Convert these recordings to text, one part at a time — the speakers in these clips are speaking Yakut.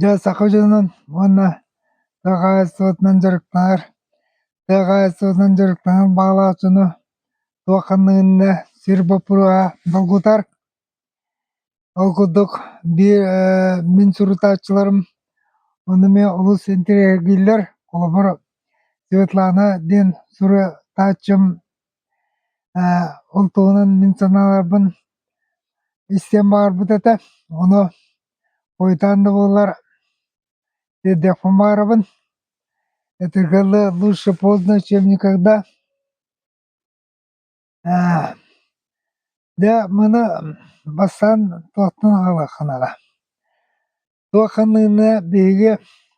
Дьэ, саха дьонун уонна тыа хаһаайыстыбатынан дьарыктанар тыа хаһаайыстыбатынан дьарыктанар баҕалаах дьону туох ханныгынна сир боппуруоһа долгутар. Ол курдук биир э, мин сурутааччыларым ону эмиэ олус интириэһиргииллэр. Холобур, Светлана диэн сурутааччым э, ол туһунан мин санааларбын истиэн баҕарбыт этэ. Ону Уйдаан да буоллар Деде Хумаровын этэргэллэ «Лучше поздно, чем никогда». Дьэ маны бастаан туохтан аҕалыах наада? Туох ханныгына биһиги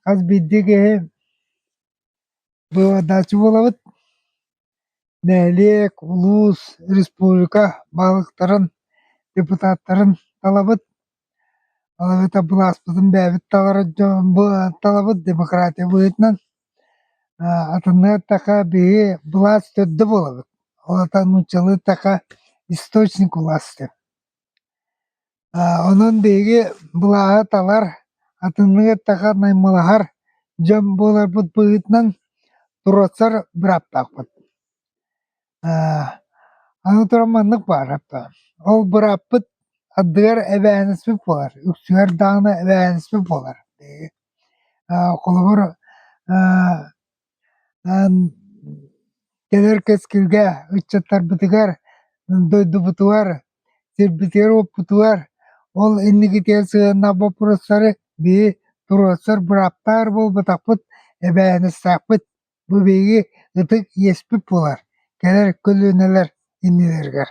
хас биирдии киһи быыбардааччы буолабыт? Нэһилиэк, улуус, республика баһылыктарын, депутаттарын талабыт, балабыта былааспытын бэйэбит таларыт дьон талабыт демократия быһыытынан атыннык эттэхэ биһи былаас төрдө буолабыт, ол атан нууччалыы эттэхэ источник власти. Онон биһиги былааһы талар, атынныгы эттэхэ наймылаһар дьон буоларбыт быһыытынан туруорсар бырааптаахпыт. Аны туран маннык баара, ол бырааппыт ардыгар эбээһинэспит буолар, үксүгэр даҕаны эбээһинэспит буолар биһиги. Холобур Кэлэр кэскилгэ ыччаттарбытыгар, дойдубутугар, сирбитигэр-уоппутугар ол инникитигэр сыһыаннаах боппуруостары биһи туруорсар бырааптаар буолбатахпыт, эбээһинэстээхпит. Бу биһиги ытык иэспит буолар кэлэр көлүөнэлэр иннилэригэр.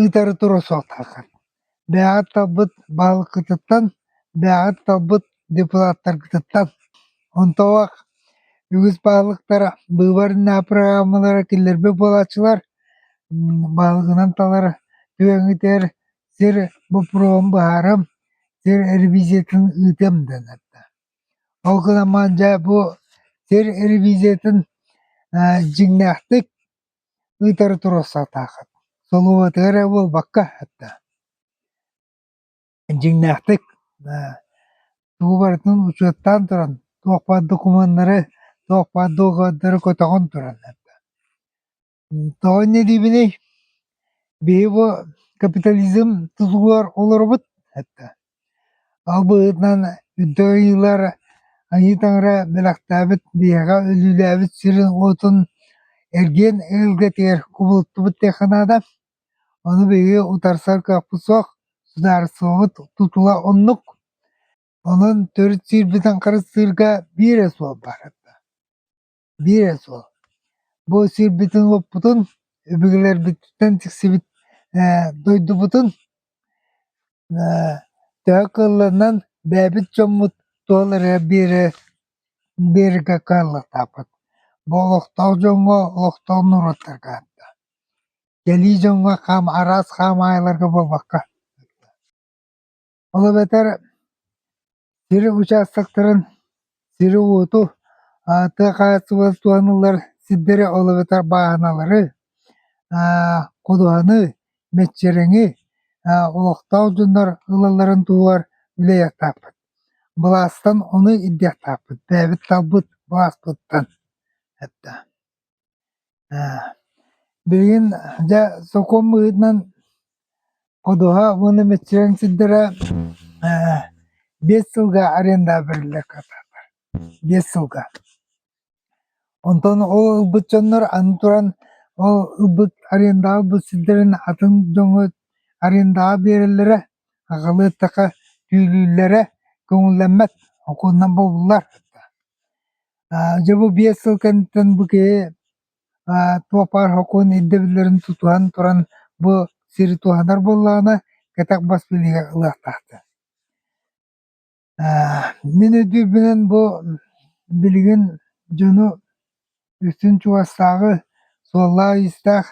ыытары тура суохтааххын. Бэйэҕит талбыт баһылыккытыттан, бэйэҕит талбыт депутаттаргытыттан. Онтоох үгүс баһылыктара быыбарыннаа программалара киллэрбэт буолааччылар, баһылыгынан талар түөҥүтэр сир боппуруоһун быһаарым, сир ревизиятын ыытыам дэнэрдэ. Ол гынан маан дьэ бу сир ревизиятын дьиҥнээхтик Ыытары туруох сатааххыт, солуобатыгы эрэ буолбакка да дьиҥнээхтик тугу барытын учуоттаан туран туох баар докумуоннары, туох баар договордары көтөҕөн туран тоҕо инньэ диибиний, биһи бу капитализм тутулугар олоробут Ол быһыытынан үрдүк айыылар айыы таҥара бэлэхтээбит биһиэхэ өлүүлээбит сирин-уотун эргиэн эгэлгэтигэр кубулуттубут диэххэ наада. Ону биһиги утарсар кыахпыт суох, судаарыстыбабыт тутула оннук. Онон төрүт сиирбитин харыстыырга биир эс суол баар. Биир эрэ суол: бу сирбитин-уоппутун өбүгэлэрбититтэн тиксибит дойдубутун төһө кыылларынан бэйэбит дьоммут туох эрэ биэрэргэ кыаллыктаахпыт. Бу олохтоох дьоҥҥо, олохтоох норуоттарга аатта. Кэлии дьоҥҥо араас хаамаайыларга буолбакка Ол эбэтэр сир учаастактарын сири-уоту, ааты хааччылас туһаныллар сирдэри, ол эбэтэр бааһыналары, ходуһаны, мэччирэҥи, олохтоох дьоннор ылалларын туһугар үлэлиэхтээхпит. Былаастан ону ирдиэхтээхпит, бэйэбит талбыт былааспыттан. Эттэ. Билигин дьэ сокуон быһыытынан ходуһа уонна мэччирэҥ сирдэрэ биэс сылга арендаабэллэр биэс сылга онтон ол ылбыт дьоннор аны туран ол ылбыт арендаҕа ылбыт сирдэрин атын дьоҥҥо арендаҕа биэрэллэрэ аҕалыахтаха түүлүүллэрэ көҥүллэммэт окуонунан бобуллар Дьэ бу биэс сыл кэнниттэн бу киһи туох баар сокуон ирдэбиллэрин тутуһан туран бу сири туһанар буоллаҕына кэтэх бас билиигэ ылыахтаахтар. Мин өйдүүрбүнэн бу билигин дьону үстүн чугастааҕы суоллаах-иистээх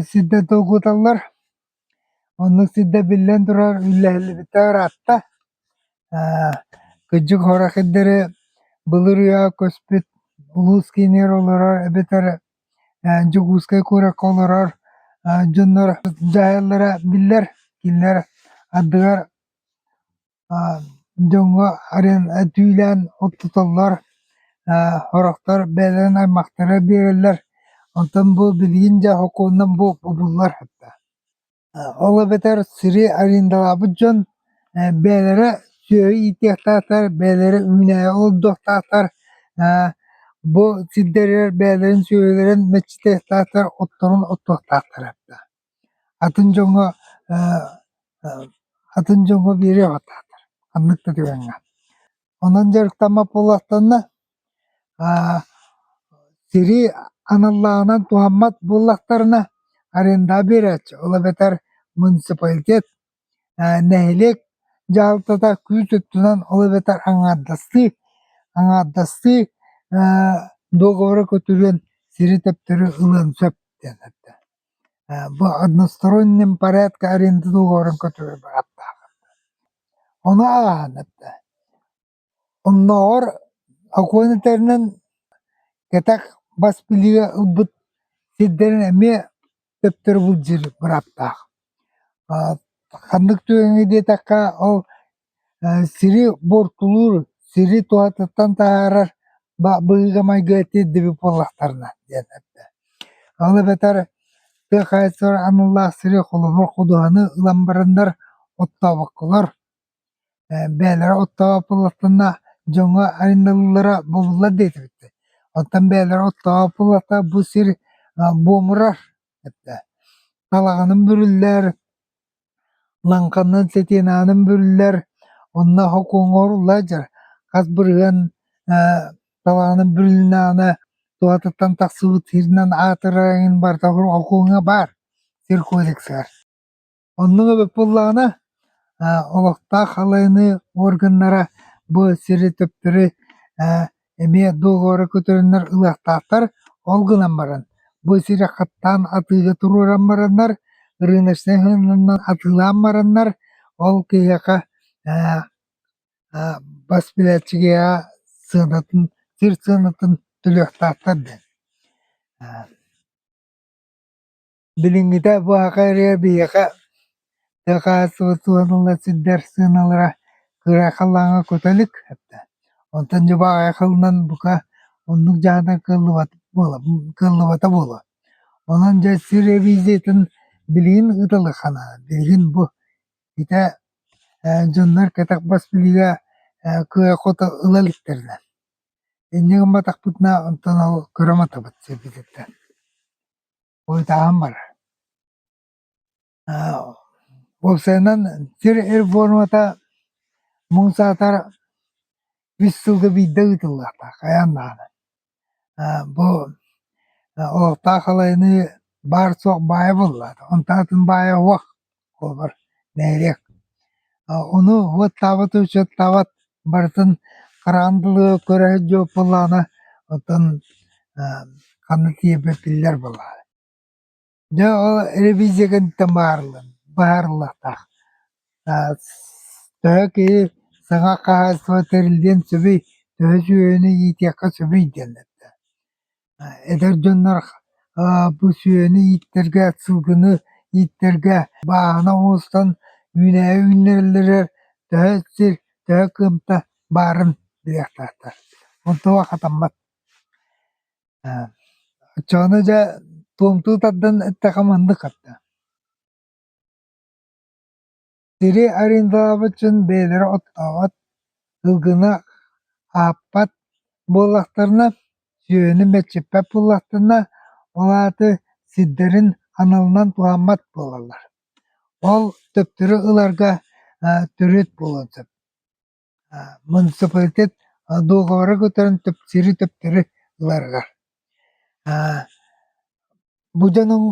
сирдэр долгуталлар. Оннук сирдэ биллэн турар үллэһиллибитэ ыраатта. Ээ кырдьык Хоракирдары былыр үйэҕэ көспүт улуус киинигэр олорор эбэтэр ээ Дьокуускай куоракка олорор дьоннор дьаһаллара биллэр. Кинилэр ардыгар дьоҥҥо арен этүүлээн оттотоллор, сорохтор бэйэлэрин аймахтара биэрэллэр, онтон бу билигин дьэ сокуонунан буолбуллар ол эбэтэр сири арендалаабыт дьон бэйэлэрэ сүөһү иитиэхтаахтар, бэйэлэрэ үүнээйи олордуохтаахтар, бу сирдэригэр бэйэлэрин сүөһүлэрин мэччитиэхтаахтар, отторун оттуохтаахтар. Атын дьоҥҥо атын дьоҥҥо биэриэх атаатар ханнык да түгэҥҥэ. Онон дьарыктаммат буоллахтарына сири аналлааҕынан туһаммат буоллахтарына арендаа биэрээччи ол эбэтэр муниципалитет Нэһилиэк дьаһалтата күүс өттүнэн ол эбэтэр аҥаардастыы аҥаардастыы договора көтүрүөн сири төптөрү ылыан сөп диэн этэ. Бу односторонним порядка аренда договорун көтүрэр бырааптаах. Ону ааһан этэ. Оннооҕор Акуоин этэринэн кэтэх бас билиигэ ылбыт сирдэрин эмиэ төптөрү былдьыыр бырааптаах. Ханнык түгэҥҥэ диэтэххэ, ол сири буортулуур, сири туһатыттан таһаарар быһыыга-майгыга тиэрдибит буоллахтарына диэн эттэ. Ол эбэтэр тыа хаһаайыстыбата аналлаах сири холобур, ходуһаны ылан бараннар оттообокколор бэйэлэрэ оттооботуллатына дьоҥҥо арыйыллара буоллулар диэтибиттэр. Оттон бэйэлэрэ оттооботуллата бу сир буомурар, талаҕынан бүрүллэр, лаҥханан, сэтиэнаанан бүрүллэр, онно хокуоҥҥа оҥоруллар дьэ хас бырыһыан талаҕынан бүрүллүнэҕинэ туһатыттан тахсыбыт сиринэн аатырар эҥин барыта хокуоҥҥа баар, сир кодексыгар. Оннук эбит буоллаҕына, олохтоох халайыныы органнара бу сири төптөрү эмиэ договора көтөрөннөр ылыахтаахтар. Ол гынан баран, бу сири хаттаан атыыга туруоран бараннар, рыночнай сыһыанынан атыылаан бараннар, ол киһиэхэ бас билээччигэ сыанатын, сир сыанатын төлүөхтаахтар диэн. Билиҥҥитэ бу аҕа эрэ биһиэхэ дакаастыбыт уонна сирдэр сыаналара кыра халлааҥҥа кута илик эбитэ. Онтон дьыбааҕай халлаан бука оннук дьаһана кыаллыбата буола кыаллыбата буолуо. Онон дьэ сир ревизиятин билигин ыытылаххана билигин бу ити э, дьоннор кэтэх бас билиигэ э, кыа-хото ыла иликтэринэ инньэ гымматахпытына онтон ол көрө матабыт сирбититтэн Уйутааһын бар уопсайынан сир эр формата муҥ саатар үс сылга биирдэ ыытыллыахтаах хайаан даҕаны бу олохтоох халайыныы баар суох баайа буоллаҕына онтон атын баайа суох Куобар нэһилиэк ону уоттаабыт учуоттаабат барытын хараан дылы көрөөт дьуоппулаана оттон ханна тиийэрбэ биллэр буолаҕа дьэ ол ревизия кэнниттэн быһаарыллыахтаах төһө киһи саҥа хаһаайыстыба тэриллиэн сөбүй төһө үсүһүөнү иитиэххэ сөбүй диэн эттэ Эдэр дьоннор бу сүөһүнү ииттэргэ, сылгыны ииттэргэ бааһына оҥостон үүнээйи үүннэрэллэригэр төһө сир, төһө кыамта баарын билиэхтээхтэр. Онтуга хатаммат. Оччоҕуна дьэ туомтуу тардан эттэххэ маннык хатта. Сири арендаабытын бэйэлэрэ оттообот, сылгыны ааппат буоллахтарына, сүөһүнү мэлчиппэт буоллахтарына, ол ааты сирдэрин аналынан туһаммат буолаллар. Ол төптөрү ыларга төрүт буолуон сөп. муниципалитет дуоговары кутан төптөрү-төптөрү ыларыгар бу дьонуҥ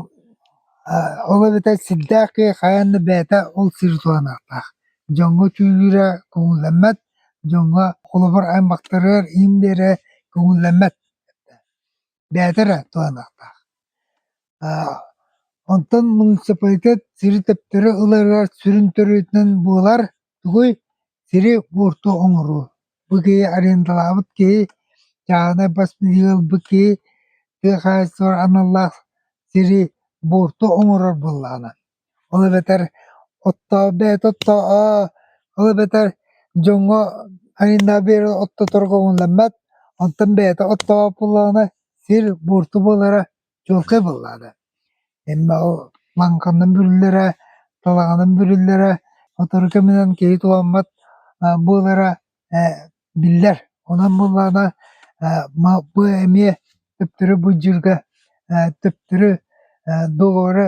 ол эбэтэр сирдээх киһи хайаан да бэйэтэ ол сир туһаныахтаах дьоҥҥо чүүлүүрэ көҥүллэммэт дьоҥҥо холобур аймахтарыгар иин биэрэрэ көҥүллэммэт бэйэтэ эрэ туһаныахтаах онтон муниципалитет сири төптөрү ыларыгар сүрүн төрүөтүнэн буолар тугуй сири буорту оҥоруу бу киһи арендалаабыт киһи чааһынай бас билиги ылбыт киһи тыа хаһаайыстыбатыгар аналлаах сири буорту оҥорор буоллаҕына Ол эбэтэр оттоо, бэйэтэ оттоо-аа, ол эбэтэр дьоҥҥо айаннаан биэрэ оттоторго умулламмат, онтон бэйэтэ оттообот буоллаҕына сир буорту буолара чуолкай буоллаҕына. Эмма ол лаҥканнан бүрүллэрэ, талаҕынан бүрүллэрэ, сотору кэминэн киһи туламмат аа буолара ээ биллэр. Онон буоллаҕына ээ ма- бу эмиэ төптөрү быдьыырга ээ төптөрү ээ доҕору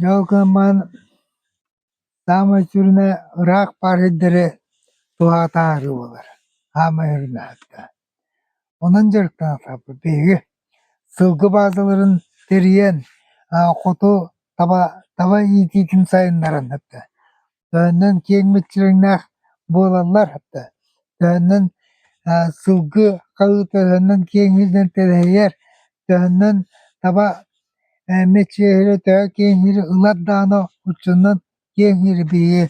Дьол гыммын саамай сүрүнэ ыраах баар сирдэри туһаатаары буолар, саамай сүрүнэхэ. Онон дьарыктанаатахпыт биһиги сылгы баазаларын тэрийэн, хоту таба, таба иитиитин сайыннаран Төһөннөн киэҥ мүччүрэҥнээх буолаллар да, төһөннөн э сылгы хаһыы төһөннөн киэҥииринэн тэлэһийэр, төһөннөн таба э мэччиэһири төһө киэҥиири ылар даҕаны оччонон киэҥиири биһиги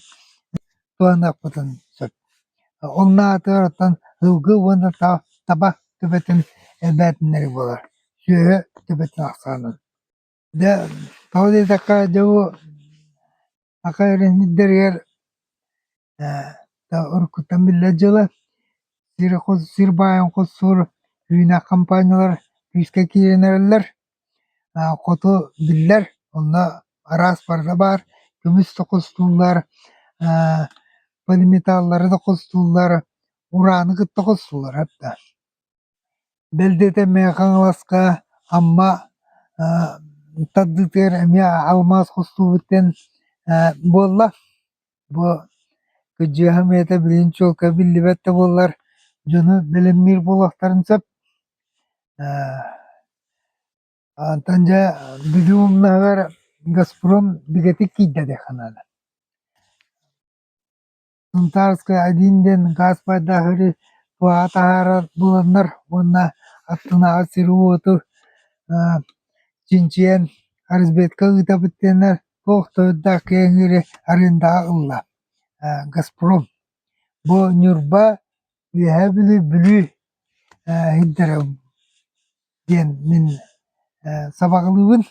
туһаныахпытын сөп. Ол аатыгар оттон сылгы уонна та- таба төбөтүн элбээтиннэрии буолар. Сүөһү төбөтүн ахсаанын. Дьэ, тоҕо диэтэххэ, дьэ бу саха эрэнньиттэригэр э уруккуттан биллэр дьыла сир-хос сир баайын хосуур үүнэх хампаанньалар күүскэ киирэн эрэллэр. Э хоту биллэр, онно араас барыта баар. Көмүс да хостууллар, э полиметаллары да хостууллар, урааны кытта хостууллар. Бэл диэтэ миэхэ Хаҥаласка Амма тардыытыгар эмиэ алмаас хостуубут диэн буолла. Бу кыдьыаһым ийэтэ билигин чуолкай биллибэт да буоллар дьону бэлэмниир буолуохтарын сөп. Оттон дьэ бүлүү умнаһыгар Газпром бигэтик киирдэ диэххэ наада. Сунтаарскай один диэн гаас пайдаһыыры туһаҕа таһаарар буоланнар уонна аттынааҕы сиру-уоту чинчийэн разведка ыыта бутeenнэр туох тоһутдаах кэҥиири арендаҕа ылла. Газпром бу Ньурба, Үөһээ Бүлүү, Бүлүү иһирдэрэ диэн мин сабаҕалыыбын.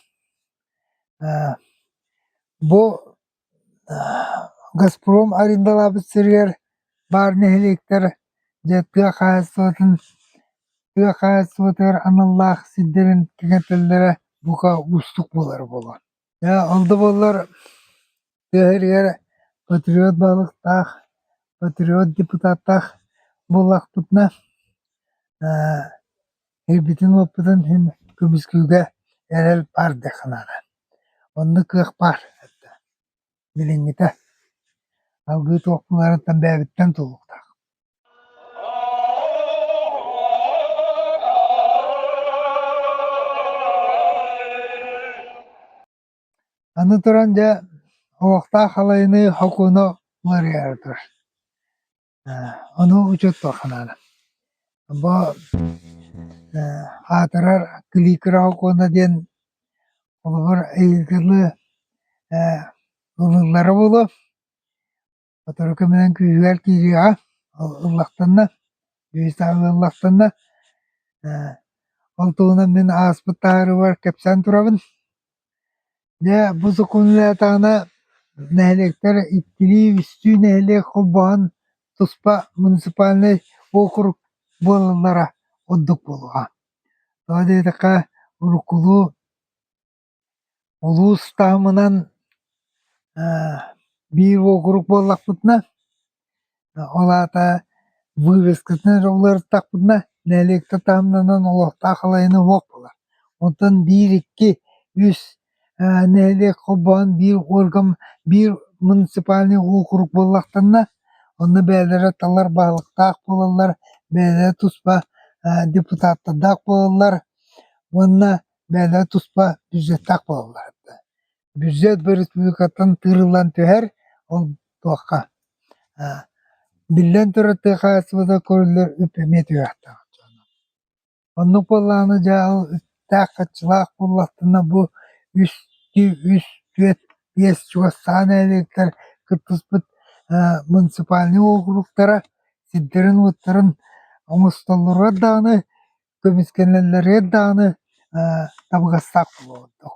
Бу Газпром арендалаабыт сиригэр баар нэһилиэктэр дьэ тыа хаһаайыстыбатын тыа хаһаайыстыбатыгар аналлаах сирдэрин кэҥэтэллэрэ бука уустук буолара буолуо. Ол да буоллар тыа сиригэр патриот баһылыктаах, патриот депутаттаах буоллахпытына Өйбүтүн-уоппутун иһин көмүскүүгэ эрэл баар диэх санаата, онно кыах баар эттэ, билиҥҥитэ алгыы туох баҕарартан бэйэбиттэн туллуктаах Аны туран, дьэ, олохтоох халайыныы Хокууна уларыйара турар Ону учуоттуох санаана. Бо э аатырар кликера окуона диэн холобур ыйытыылы э ылыллара буолуо. Сотору кэминэн күүһүгэр киириэҕэ, ыллахтанна, үһүстээҕи ыллахтанна. Э ол туһунан мин ааспыт таһаарыыбар кэпсээн турабын. Дьэ, бу сокуоннатаҕына нэһилиэктэр иккилии-үстүү нэһилиэк холбоһон туспа муниципальнай уокурук буолаллара ордук буолуоҕа. Тоҕо диэтэххэ, уруккулуу улуус таһымынан биир уокурук буоллахпытына, Ол аата вывескатын эрэ уларыттахпытына нэһилиэктэ таһымнанан олохтоох халайына суох буолар. Онтон биир, икки, үс э нэһилиэк холбоон биир орган, биир муниципальнай уокурук буоллахтанна, онно бэйэлэрэ талар баһылыктаах буолаллар, бэйэлэрэ туспа э депутаттардаах буолаллар уонна бэйэлэрэ туспа бюджеттаах буолаллар. Бүддьүөт бөрүспүүкэттэн тыырыллан түһэр, ол туохха биллэн турар тыа хаһаайыстыбата көрүллэр үп эмиэ түһэхтээх дьоно. Оннук буоллаҕына дьаһал үттээх-хаччылаах буоллахтына бу үс тү үс түөрт биэс чугас саһан нэһилиэктэр кыттыспыт муниципальнай уокуруктара сирдэрин-уоттарын оҥостоллоругар даҕаны, көмүскэнэллэригэр даҕаны табыгастаах буолуо ордук.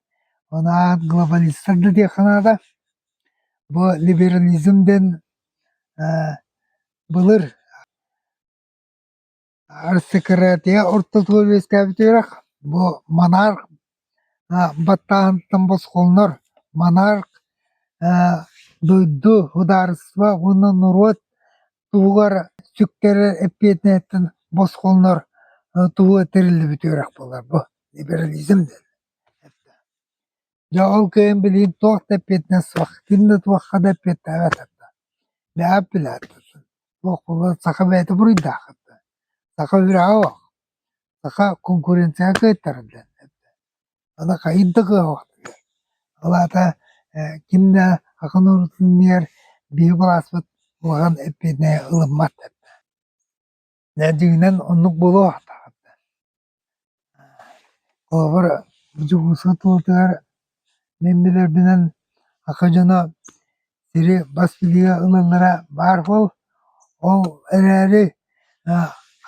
Ол аан глобалистар да диэххэ наада. Бу либерализм диэн ээ былыр аристократия ортотугар үөскээбит үөрэх бу монарх аа баттааһынтан босхолонор монарх ээ дойду, судаарыстыба уонна норуот Туһугар сүктэрэр эппиэтинэһиттэн босхолонор туһуга тэриллибит үөрэх буолар бу либерализм диэн. Дьэ ол кыайан билигин туох да эппиэтинэс суох, ким да туохха да эппиэттээбэтэхтэ. Бэҕэ билээхпитин. Туох буолар саха бэйэтэ буруйдаахтар. Саха үрэҕэ бох. Саха конкуренцияҕа кыайтарар диэн. Аны хайыыр да кыаҕа, ол аата ким да атын оруутун иннигэр биһиги былааспыт улахан эппиэтинэһи ылыммат этэ. Дьэ дьиҥинэн оннук буолуо атаҕар. Холобур, Дьокуускай тулутыгар мин билэрбинэн ака дьоно сири бас билиигэ ылаллара баар буол, ол эрээри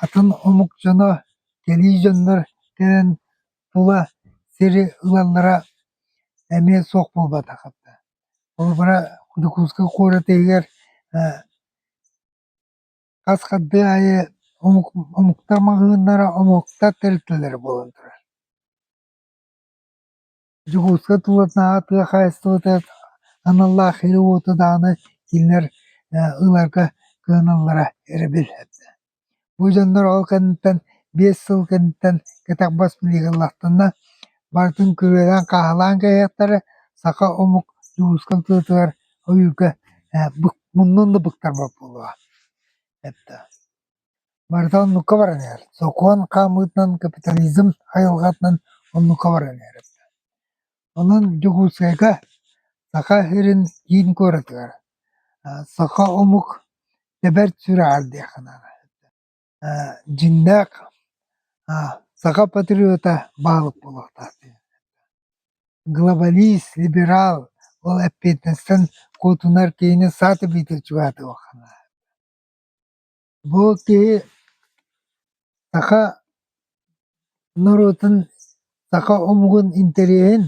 атын омук дьоно, кэлии дьоннор кэлэн Тула сири ылаллара эмиэ суох буолбатахтар. Холобура, Дьокуускай куорат иһигэр хас хардыы аайы омук омуктар маҕаһыыннара, омуктар тэрилтэлэрэ буолан турар. Дьокуускай тулатынааҕы тыа хаһаайыстыбатыгар аналлаах ири-уоту даҕаны кинилэр ыларга кыһаналлара эрэ билинэрдэ Бу дьоннор ол кэнниттэн биэс сыл кэнниттэн кэтэх бас билигалаахтарына, барытын күрүөлээн-хааһылаан кэбиһиэхтэрэ, саха омук Дьулуска ытыытыгар ойуурга э, бык, муннун да быктарбат буолуо. Эттэ. Барыта оннукка баран иһэр. Сокуон хаамыытынан, капитализм хайылҕатынан оннукка баран иһэр. Онон Дьокуускайга Саха сирин киин куоратыгар саха омук тэбэр сүрэҕэр диэххэ наада. дьиннээх саха патриота баһылык буолуохтаах дии. Глобалист, либерал, ол эппиэтинэстэн куотунар киһини саатар биитэ чугаһатыахха наада. Бу киһи саха норуотун саха омугун интэриэһин,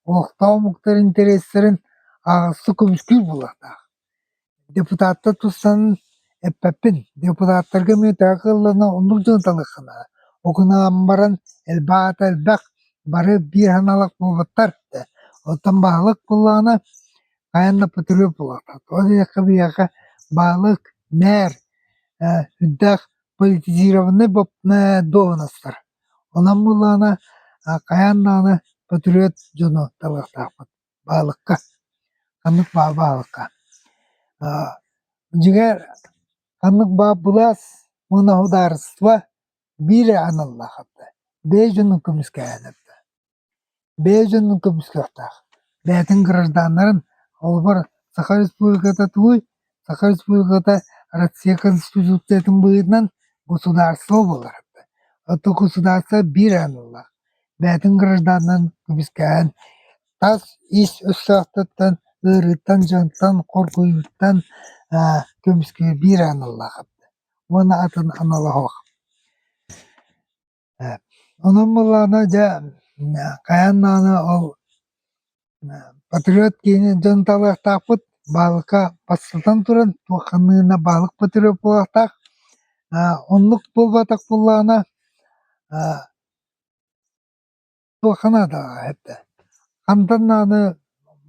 олохтоох омуктар интэриэстэрин аҕыстан көмүскүүр буолуохтаах. Депутаттар туссан эппэппин. Депутаттарга эмиэ үтэҕэ кыаллана оннук дьон таныахха наада. Ол гынан баран элбэх элбэх бары биир санаалаах буолбаттар да. Оттон баһылык буоллаҕына Хайанна Петров улаатар, ол диэххэ биһиэхэ баалык, мээр, э сүрдээх политизированнай бо э дуоһунастар. Онон буоллаҕына а хайаан даҕаны Патриот дьону талыахтаахпыт баалыкка. Ханнык баа баалыкка. А дьиҥэр ханнык баа былаас муна судаарыстыба биир аналлаах эбитэ. Бэс дьонун көмүскэһэн эбитэ. бэйэ дьонун көмүскүөхтээх, бэйэтин гражданнарын, холобур, Саха Республиката тугуй? Саха Республиката Россия Конституциятын быһыытынан государство буолара. Оттон государство биир аан ыллаах, бэйэтин гражданнарын көмүскэһэн, тас ис өстөөхтөртөн, ыарыыттан, дьонтон, хоргуйууттан көмүскүүр биир аан ыллаах уонна атын аналоһох. Онон буоллаҕына дьэ хайаан даҕаны ол патриот киһини дьон талыахтаахпыт баалыка бастатан туран туох ханныгына баалык патриот буолуохтаах оннук буолбатах буоллаҕына туохха наадаҕа эрдэ хантан даҕаны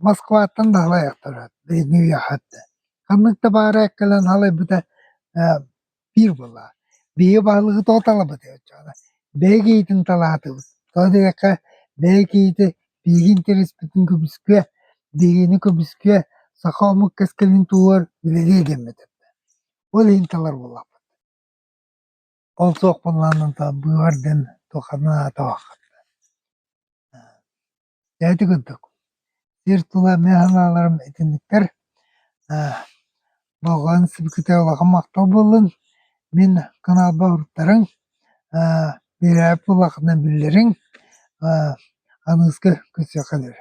Москваттан наһылайахтарат билиҥҥи үйэҕэ эрдэ ханнык да баара кэлэн халайбыта ээ биир былаан биһиги баһылыгы тооталабыт оччоҕуна бэйэ киһитин талаатыбыт тоҕо диэтэххэ бэйэ киһитэ биһигин тэлэспитин көбүскүө дириҥи көбүскүө саха омук кэскилин туһугар билириэ диэммит эрдэ ол иһин талар буоллахпыт Ол суох буоллаҕына та быыбар диэн туохханан аатабаххыт да Дөөтү курдук сир тула мин санааларым итинниктэр аа болҕойон сибикитэ улахан махтал буоллун мин каналба уруттарыҥ аа биэрээпи улаханын биллэриҥ аа аныыска көрсүөххэ диэри